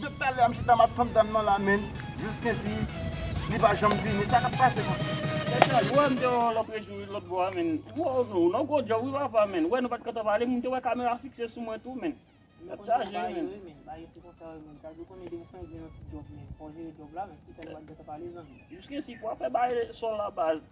Depi talè a m chita map tann dam nan la menn jis kensi li pa janm vini sa kap pase menn. Mesye a jwe m te wè w loprejou wi lotbò a menn woww nou nan yon gwo djòb wi papa menn wè nou pat kantan pale m te wè kamera fikse sou mwen tou menn nap chaje wi menn. Jis kensi pou wap fè bare sòl la baz.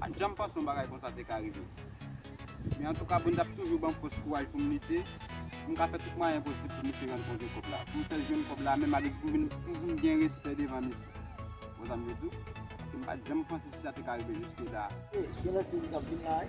Pat janm panse yon bagay konsa te ka rive. Men antouka Bondye ap toujou banm fòs kouraj poum lite, poum ka fè tout mwayen posib pou misye rann kont yon kòb la, poum fèl jwenn kòb la menm avèk pou vin pou vin gen respè devan misye. Wè sam vle diw? Paske m pat janm panse si sa te ka rive jiske la a. E gen lòt peyi kap vin la wi.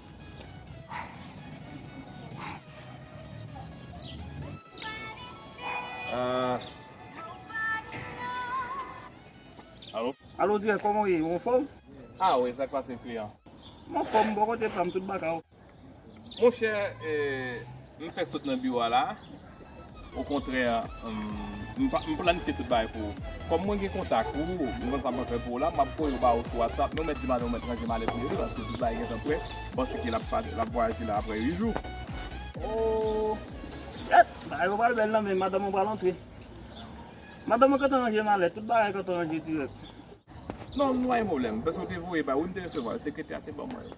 Alo dirè koman ou ye ou anfòm? A wi sak pase kliyan? M anfòm bò kote pam tout baka ou? Monchè m fèk sot nan biwo a la. Okontrè, m planifye tout bagay pou ou. Kòm mwen gen kontak ou, m konn sa m pral fè pou ou la, m ap voye ou ba ou sou Whatsapp. Men ou mèt di madanm ou mèt ranje malèt li wi, paske tout bagay gentan prè. M panse ke l ap vwayaje la aprè 8 jou. Ohh! Èt! Bagay yo pral bèl nan men, madanm ou pral antre. Madanm mwen gentan ranje malèt, tout bagay gentan ranje dirèk. Non, m pa gen pwoblèm. M panse ou te voye ba ou wi, m te resevwa yo. Sekretè a te ban mwen yo.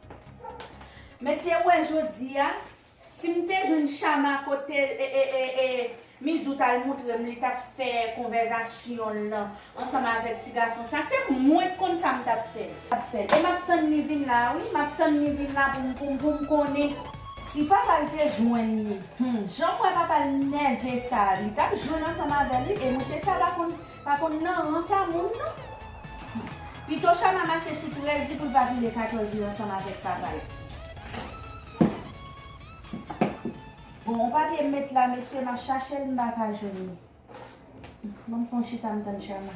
Mesye ou wè jodia sim te jwenn chama kote Mizou tal moutrem li tap fè konvèzasyonl lan ansanm avèk ti gason sa se mwen k konn sam tap fè. E map tann li vin la wi map tann li vin la poum konnen. Si papal te jwenn li humm janm wè papal nève sa li tap jwenn ansanm avèl wi e mouche sa pa konn Pa konn nan rans a moun non. Pito Shama mache sou 13 li poul pa pile 14 li ansanm avèk papal. Bon on papye m met la mesye map chachel m paka jwenn li. Banm fon chita m tann Shama.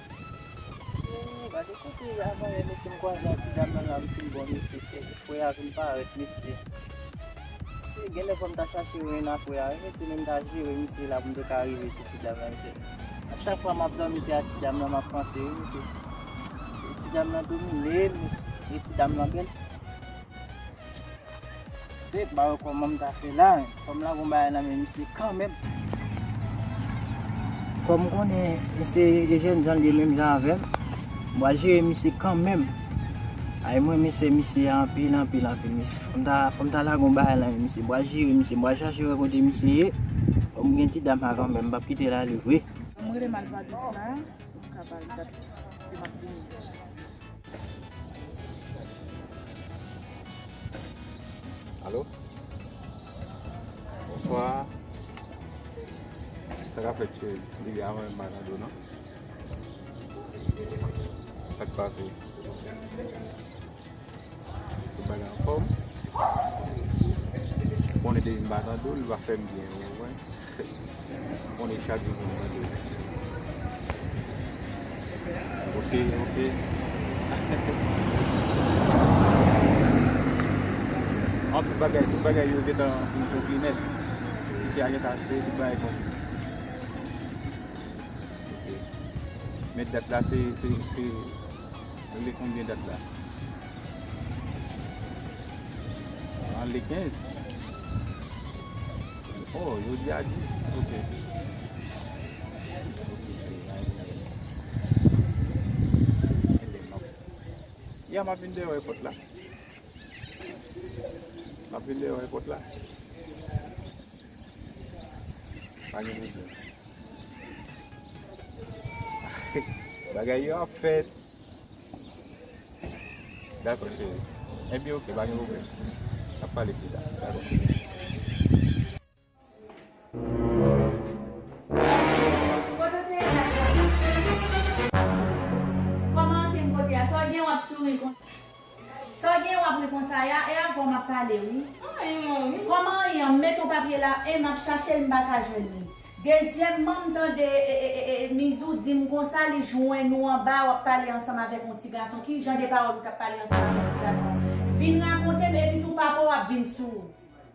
Ooh gade kote avanyè mesye m kwaze ak ti dam nan la m fin bon mesye se frè a vin parèt mesye se genlè fòm ta chache ren a frè a wi mesye men m ta jere misye la pou m te ka rive sou ti dam nan mesye a chak fwa map dòmi se a ti dam nan map panse wi mesye ti dam nan dominem mesye e ti dam nan bèl. Se pa wè kòman m ta fè la, kòm la gon bagay nan men misye kanmenm. Kòm m konnen se jènjan l ye menm jan avè m, m pral jere misye kanmenm. Ay m renmen sè misye a anpil anpil anpil mesye. Fò m ta, fò m ta lage yon bagay nan men misye. M pral jere misye, m pral chache wè kote misye ye. Kòm gen ti dam avan menm, m pap kite l ale vre. M rele malpouwont la, m ka ba l dat ke m ap vini. Alo Bonswa Sa ka fèt cheri Depi avan menm m pa tande w nan Sa k pase Tout bagay anfòm Ou konnen depi m pa tande w li pa fè m byen ou konprann Ou konnen chak jou moun mande w. Ok, ok. Anpil bagay, tout bagay yo gentan fin konkli nèt. Tike a gentan achte, tout bagay konkli. Ok. Men dat la se, se, se, nou le konbyen dat la? An le 15. Oh yo di a 10 ok. Ya map vin deyo epot la. Map vin deyo epot la. Pa gen problem. Bagay yo ap fèt. Dako cheri. Ebyen ok pa gen pwoblem. Nap pale pi ta. Dako. Saw gen wap ri konsa ya e avèw map pale wi. Kòman an ye an m met yon papye la en map chachel m paka jwenn li dezyèmman m tande mizou dim konsa li jwenn ou anba wap pale ansanm avèk yon ti gason ki jan de pawòl ou tap pale ansanm avèk yon ti gason vin rakontem epi tou papaw ap vin sou.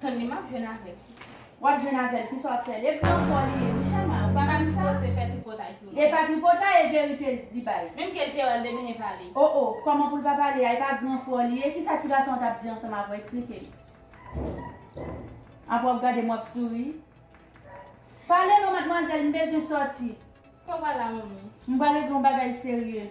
Tande map jwenn avèl. Wap jwenn avèl kisa wap fè lèd nan fò li ye wi chama ou pa konn sa. Epa tripotay se fè tripotay sou li. Epa tripotay e verite li bay. Menm kel te wèl demen li pale. Oh oh kòman poul pa pale a epa gran fò li ye kisa ti gason an tap di ansanm avèw eksplikem. Aprè wap gadem wap souri. Pale non madmwazèl m bezwen sòti. Fè w pale a manmi. M pral regle yon bagay serye.